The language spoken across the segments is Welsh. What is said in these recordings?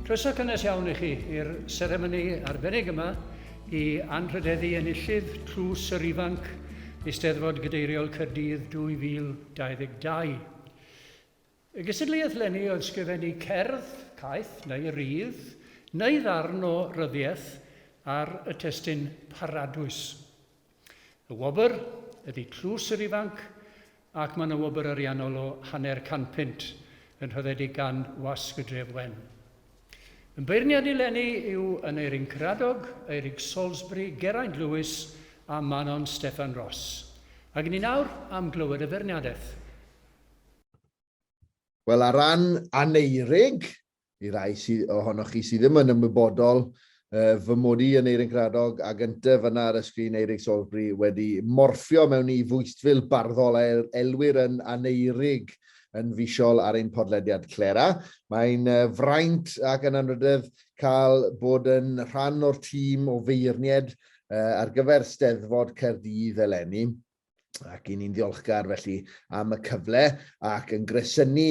Croeso cynnes iawn i chi i'r seremoni arbennig yma i anrhydeddu enillydd Tlws yr Ifanc Eisteddfod Gadeiriol Caerdydd 2022. Y gystadleuaeth leni oedd sgrifennu cerdd, caeth neu rydd, neu ddarn o ryddiaith ar y testun Paradwys. Y wobr ydi Tlws yr Ifanc ac mae yna wobr ariannol o hanner can punt yn rhyddedig gan Wasg y Dref Wen. Yn beirniadu leni yw Aneurin Cradog, Eirig Salisbury, Geraint Lewis a Manon Steffan Ros. Ac ni nawr am glywed y feirniadaeth. Wel, ar ran Aneurig, i rai sy, ohonoch chi sydd ddim yn ymwybodol, uh, fy mod i yn Eirin Gradog a gyntaf yna ar y sgrin Eirig Salisbury wedi morffio mewn i fwystfil barddol a el elwyr yn Aneurig yn fisiol ar ein podlediad Clera. Mae'n uh, fraint ac yn anrhydedd cael bod yn rhan o'r tîm o feirnied uh, ar gyfer Steddfod Caerdydd eleni. ac i ni'n ddiolchgar felly am y cyfle ac yn gresynu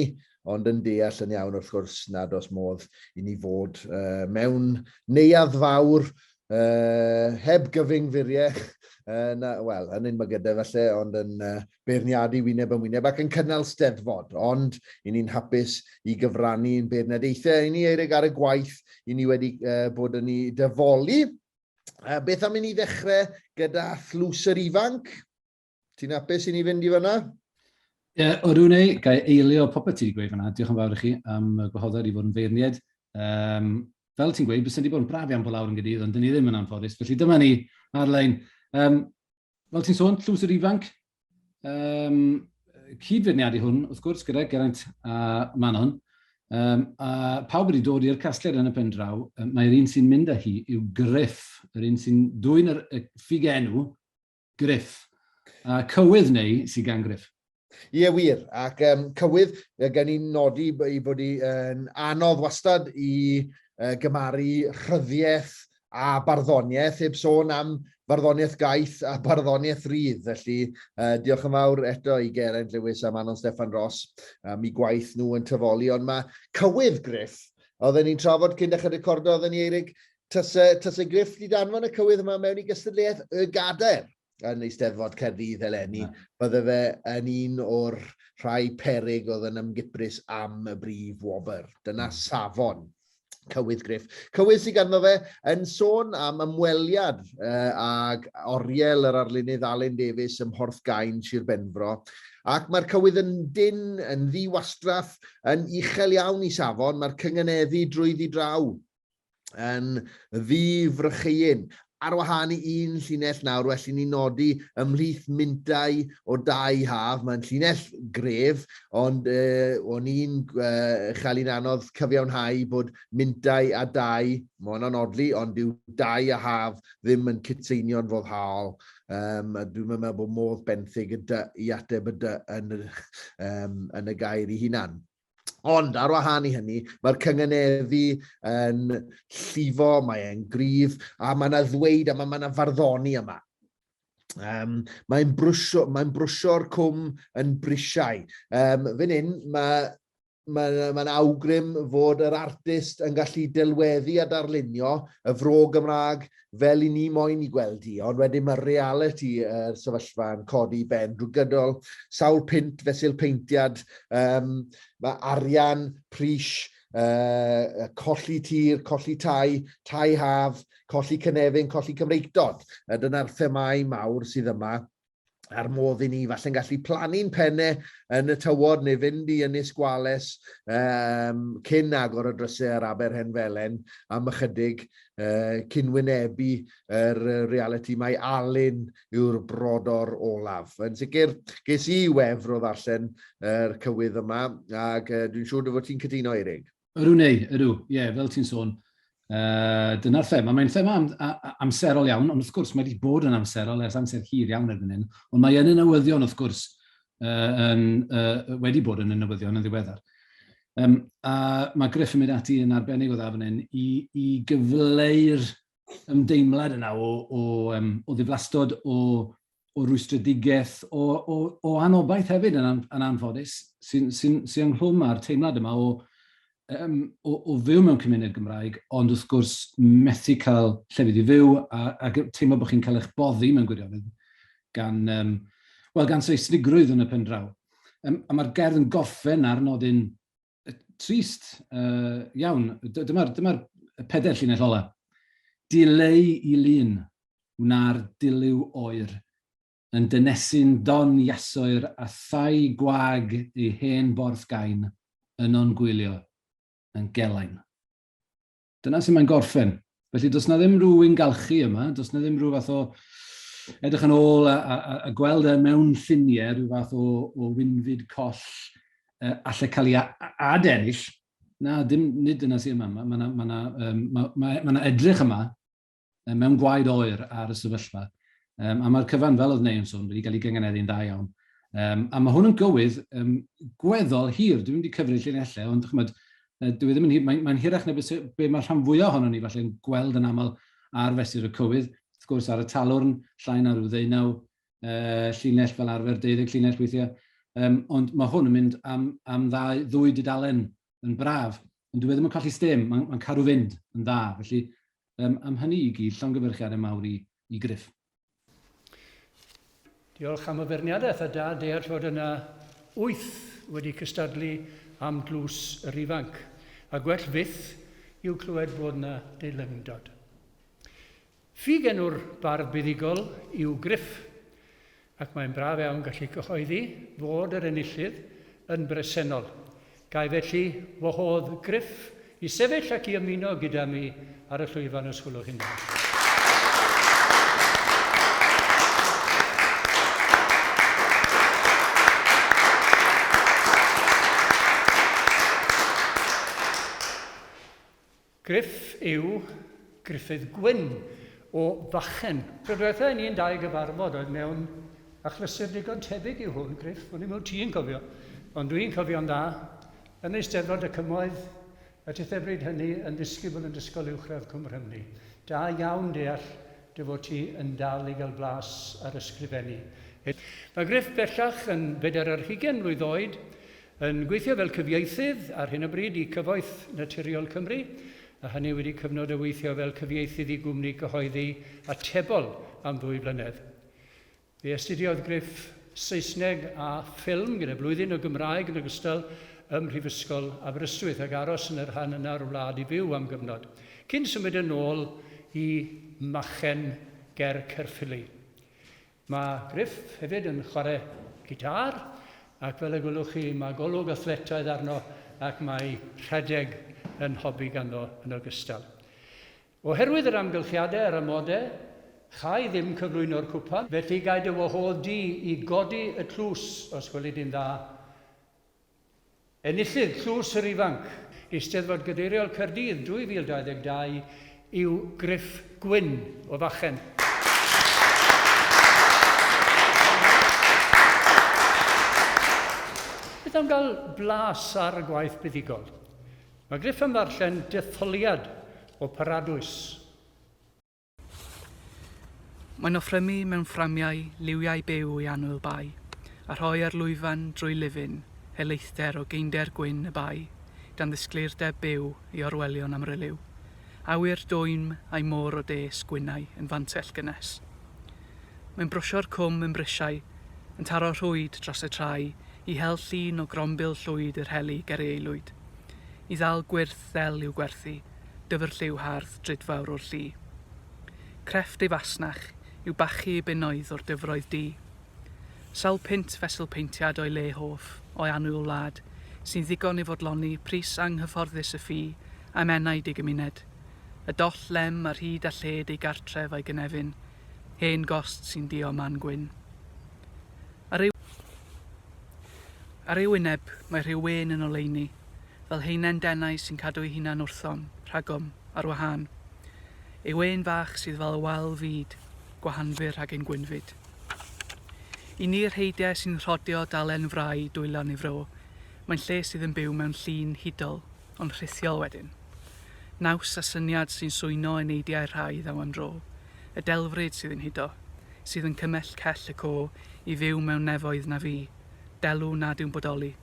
ond yn deall yn iawn wrth gwrs nad oes modd i ni fod uh, mewn neuadd fawr uh, heb gyfyngfuriech, uh, na, wel, yn un gyda falle, ond yn uh, beirniadu wyneb yn wyneb ac yn cynnal steddfod, ond i ni'n hapus i gyfrannu yn beirniadaethau i ni eirig ar y gwaith i ni wedi uh, bod yn ei dyfoli Uh, beth am i ni ddechrau gyda thlws yr ifanc? Ti'n apus i ni fynd i fyna? Ie, yeah, o rwy'n ei, gael eilio popeth ti wedi gweud fyna. Diolch yn fawr i chi am y gwahoddiad i fod yn feirniaid. Um, fel ti'n gweud, bys wedi bod yn braf iawn bod lawr yn gydydd, ond dyn ni ddim yn anffodus. Felly dyma ni ar-lein. Um, Fel ti'n sôn, tlws yr ifanc, um, cyd-feirniadu hwn, wrth gwrs, gyda Geraint a Manon, um, a pawb wedi dod i'r casgliad yn y pen draw, um, mae'r un sy'n mynd â hi yw Griff, yr un sy'n dwy'n y ffug enw, Griff, a cywydd neu sy'n gan Griff. Ie, yeah, wir. Ac um, cywydd, gen i'n nodi i bod yn anodd wastad i uh, gymaru rhyddiaeth a barddoniaeth, heb sôn am farddoniaeth gaeth a barddoniaeth rydd. Felly, uh, diolch yn fawr eto i Geraint Lewis a Manon Stefan Ross am i gwaith nhw yn tyfoli. Ond mae cywydd Griff, oedden ni'n trafod cyn dechrau recordo, oedden ni Eirig, tase, tase Griff di danfon y cywydd yma mewn i gystadleuaeth y gadair. yn Eisteddfod Caerdydd eleni. Na. Bydde fe yn un o'r rhai perig oedd yn ymgyprus am y brif wobr. Dyna hmm. safon Cywydd Griff. Cywydd sydd ganddo fe yn sôn am ymweliad uh, ag oriel yr arlunydd Alun Davies ym Mhorth Gain, Sir Benfro. Ac mae'r cywydd yn dyn, yn ddiwastraff, yn uchel iawn i safon, mae'r cynganeddu drwy ddi draw. yn ddifrycheuyn. Ar wahân i un llinell nawr, well i ni nodi ymhlith mintau o dau haf, mae'n llinell gref, ond e, o'n i'n e, chael i'n anodd cyfiawnhau bod mintau a dau, mae hwnna'n odli, ond dyw dau a haf ddim yn cytseinion foddhaol. Um, a dwi'n meddwl bod modd benthyg y dy i ateb y dy yn, um, yn y gair i hunan. Ond ar wahân i hynny, mae'r cynganeddu yn llifo, mae'n gryf, a mae yna ddweud a mae yna farddoni yma. Um, mae'n brwsio, mae brwsio'r cwm yn brisiau. Um, Fyn hyn, mae mae'n ma awgrym fod yr artist yn gallu delweddu a darlunio y fro Gymraeg fel i ni moyn i gweld i, ond wedyn mae reality y uh, sefyllfa yn codi ben drwy gydol sawl pint fesul peintiad, um, mae arian, pris, uh, colli tir, colli tai, tai haf, colli cynefin, colli Cymreictod. Dyna'r themau mawr sydd yma a'r modd i ni falle'n gallu plannu'n penne yn y tywod neu fynd i Ynys Gwales um, cyn agor y drysau ar Aber Hen Felen am ychydig uh, cyn wynebu yr uh, reality mae Alun yw'r brodor olaf. Yn sicr, ges i wefr o ddarllen yr uh, cywydd yma ac uh, dwi'n siŵr dy fod ti'n cytuno, Eirig. Ydw, neu, ydw, ie, yeah, fel ti'n sôn, uh, dyna'r thema. Mae'n thema am, a, amserol iawn, ond wrth gwrs mae wedi bod yn amserol ers amser hir iawn erbyn hyn, ond mae yn y newyddion, wrth gwrs, uh, yn, uh, wedi bod yn y newyddion yn ddiweddar. Um, a mae Griff yn mynd ati yn arbennig o dda fan hyn i, i gyfleu'r ymdeimlad yna o, o, um, o ddiflastod, o o rwystredigaeth, o, o, o anobaith hefyd yn, an, yn anffodus, sy'n sy sy ynghlwm â'r teimlad yma o, um, o, o fyw mewn cymuned Gymraeg, ond wrth gwrs methu cael llefydd i fyw a, a teimlo bod chi'n cael eich boddi mewn gwirionedd gan, um, wel, gan seisnigrwydd yn y pen draw. Um, a mae'r gerdd yn gorffen ar nodyn trist uh, iawn. Dyma'r dyma peder llinell ola. Dileu i lun, wna'r dilyw oer, yn dynesu'n don iasoer a thai gwag ei hen borth gain, yno'n gwylio, yn gelain. dyna sy'n mae'n gorffen. Felly, does na ddim rhyw un galchu yma, does na ddim rhyw fath o edrych yn ôl a, a, a, a gweld e mewn ffiniau, rhyw fath o, o wynfyd coll uh, allai cael ei adennill. Na, dim, nid yna sy'n yma. Mae yna ma, ma, ma, ma, ma, ma edrych yma mewn gwaed oer ar y sefyllfa. Um, a mae'r cyfan, fel oedd Neu'n sôn, wedi cael ei gynganeddu'n dda iawn. Um, a mae hwn yn gywydd um, gweddol hir, dwi'n mynd i cyfrif llinellau, ond chymod, dwi e ddim yn hir, mae'n mae hirach na beth be mae rhan fwyaf ohono ni falle'n gweld yn aml ar fesur y cywydd, wrth gwrs ar y talwrn, llai na rhyw ddeunaw uh, llinell fel arfer, deuddeg llinell weithiau, um, ond mae hwn yn mynd am, am ddau, ddwy dudalen yn braf, ond dwi e ddim yn colli stem, mae'n mae cadw fynd yn dda, felly Um, am hynny i gyd, llongyfyrchiad y mawr i, i Griff. Diolch am y feirniadaeth a da deall fod yna wyth wedi cystadlu am dlws yr ifanc, a gwell fyth yw clywed fod yna deilyngdod. Ffug enw'r bardd buddugol yw Griff. ac mae'n braf iawn gallu cyhoeddi fod yr enillydd yn bresennol. Gai felly wahodd Griff i sefyll ac i ymuno gyda mi ar y llwyfan os gwelwch chi'n dda. Gruff yw Gruffydd Gwyn o Fachyn. Tro dwetha i ni'n dau gyfarfod oedd mewn achlysur digon tebyg i hwn, Gruff, o'n i'm wt ti'n cofio, ond dwi'n cofio'n dda, yn Eisteddfod y Cymoedd, y tithe bryd hynny, yn ddisgybl yn Ysgol Uwchradd Cwm Rhymni. Da iawn deall dy fod ti yn dal i gael blas ar ysgrifennu. Mae Gruff bellach yn bedair ar hugain mlwydd oed, Yn gweithio fel cyfieithydd ar hyn o bryd i Cyfoeth Naturiol Cymru, a hynny wedi cyfnod o weithio fel cyfieithydd i gwmni cyhoeddi atebol am ddwy flynedd. Fe astudiodd Griff Saesneg a Ffilm gyda blwyddyn o Gymraeg yn ogystal ym Mhrifysgol Aberystwyth ac aros yn y rhan yna o'r wlad i fyw am gyfnod, cyn symud yn ôl i Machen ger Caerffili. Mae Griff hefyd yn chwarae gitâr ac fel y gwelwch chi mae golwg athletaidd arno ac mae rhedeg yn hobi ganddo yn ogystal. Oherwydd yr amgylchiadau a'r amodau, châi ddim cyflwyno'r cwpan, felly gai dy wahodd di i godi y tlws os gweli di'n dda. Enillydd Tlws yr Ifanc Eisteddfod Gadeiriol Caerdydd 2022 yw Griff Gwyn o Fachen. Beth am gael blas ar y gwaith buddugol? Mae Griff yn ddarllen detholiad o Paradwys. Mae'n offrymu mewn fframiau liwiau byw i annwyl bae, a rhoi ar lwyfan drwy lifyn helaethdder o geinder gwyn y bae, gan ddisgleirdeb byw i orwelion amryliw. Awyr dwym a'i môr o des gwynnau yn fantell gynnes. Mae'n brwsio'r cwm yn brisiau, yn taro rhwyd dros y trae i hel llun o grombil llwyd yr heli ger ei aelwyd. I ddal gwyrth ddel i'w gwerthu, Dyfrlliw hardd drud fawr o'r llu. Crefft ei fasnach yw bachu i bunnoedd o'r dyfroedd du. Sawl punt fesul peintiad o'i le hoff, o'i annwyl wlad, sy'n ddigon i fodloni pris anghyfforddus y ffi am enaid ei gymuned, y doll lem ar hyd a lled ei gartref a'i gynefin, hen gost sy'n duo man gwyn. Ar ei wyneb mae rhyw wên yn oleuni. fel haenen denau sy'n cadw'u hunan wrthom, rhagom, ar wahân. Ei wên fach sydd fel y wal fyd, gwahanfu rhag ein gwynfyd. I ni rheidiau sy'n rhodio dalen frai dwylo neu fro, mae'n lle sydd yn byw mewn llun hudol, ond rhithiol wedyn. Naws a syniad sy'n swyno yn eidiau rhai ddaw am dro, y delfryd sydd yn hudo, sydd yn cymell cell y co i fyw mewn nefoedd na fu, delw nad yw'n bodoli.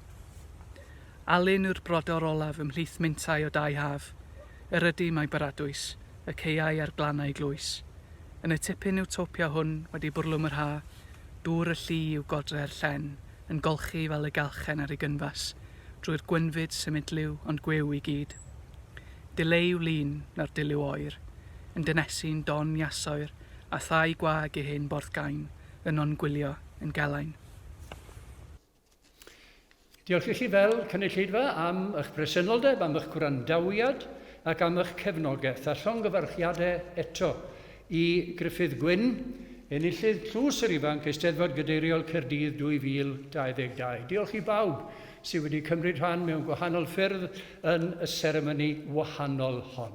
Alun yw'r brodor olaf ymhlith mintau o dau haf, yr ydym a'i baradwys, y caeau a'r glannau glwys. Yn y tipyn iwtopia hwn wedi bwrlwm yr ha, dŵr y lli yw godre'r llen yn golchi fel y gallchen ar ei gynfas drwy'r gwynfyd symudliw ond gwiw i gyd. Dile yw lun, na'r dilyw oer, yn dynesu'n don iasoer a thai gwag ei hen borthgain yno'n gwylio yn gelain. Diolch i chi fel cynulleidfa am eich presenoldeb, am eich gwrandawiad ac am eich cefnogaeth, a llongyfarchiadau eto i Gruffydd Gwyn, enillydd Tlws yr Ifanc, Eisteddfod Gadeiriol Caerdydd 2022. Diolch i bawb sydd wedi cymryd rhan mewn gwahanol ffyrdd yn y seremoni wahanol hon.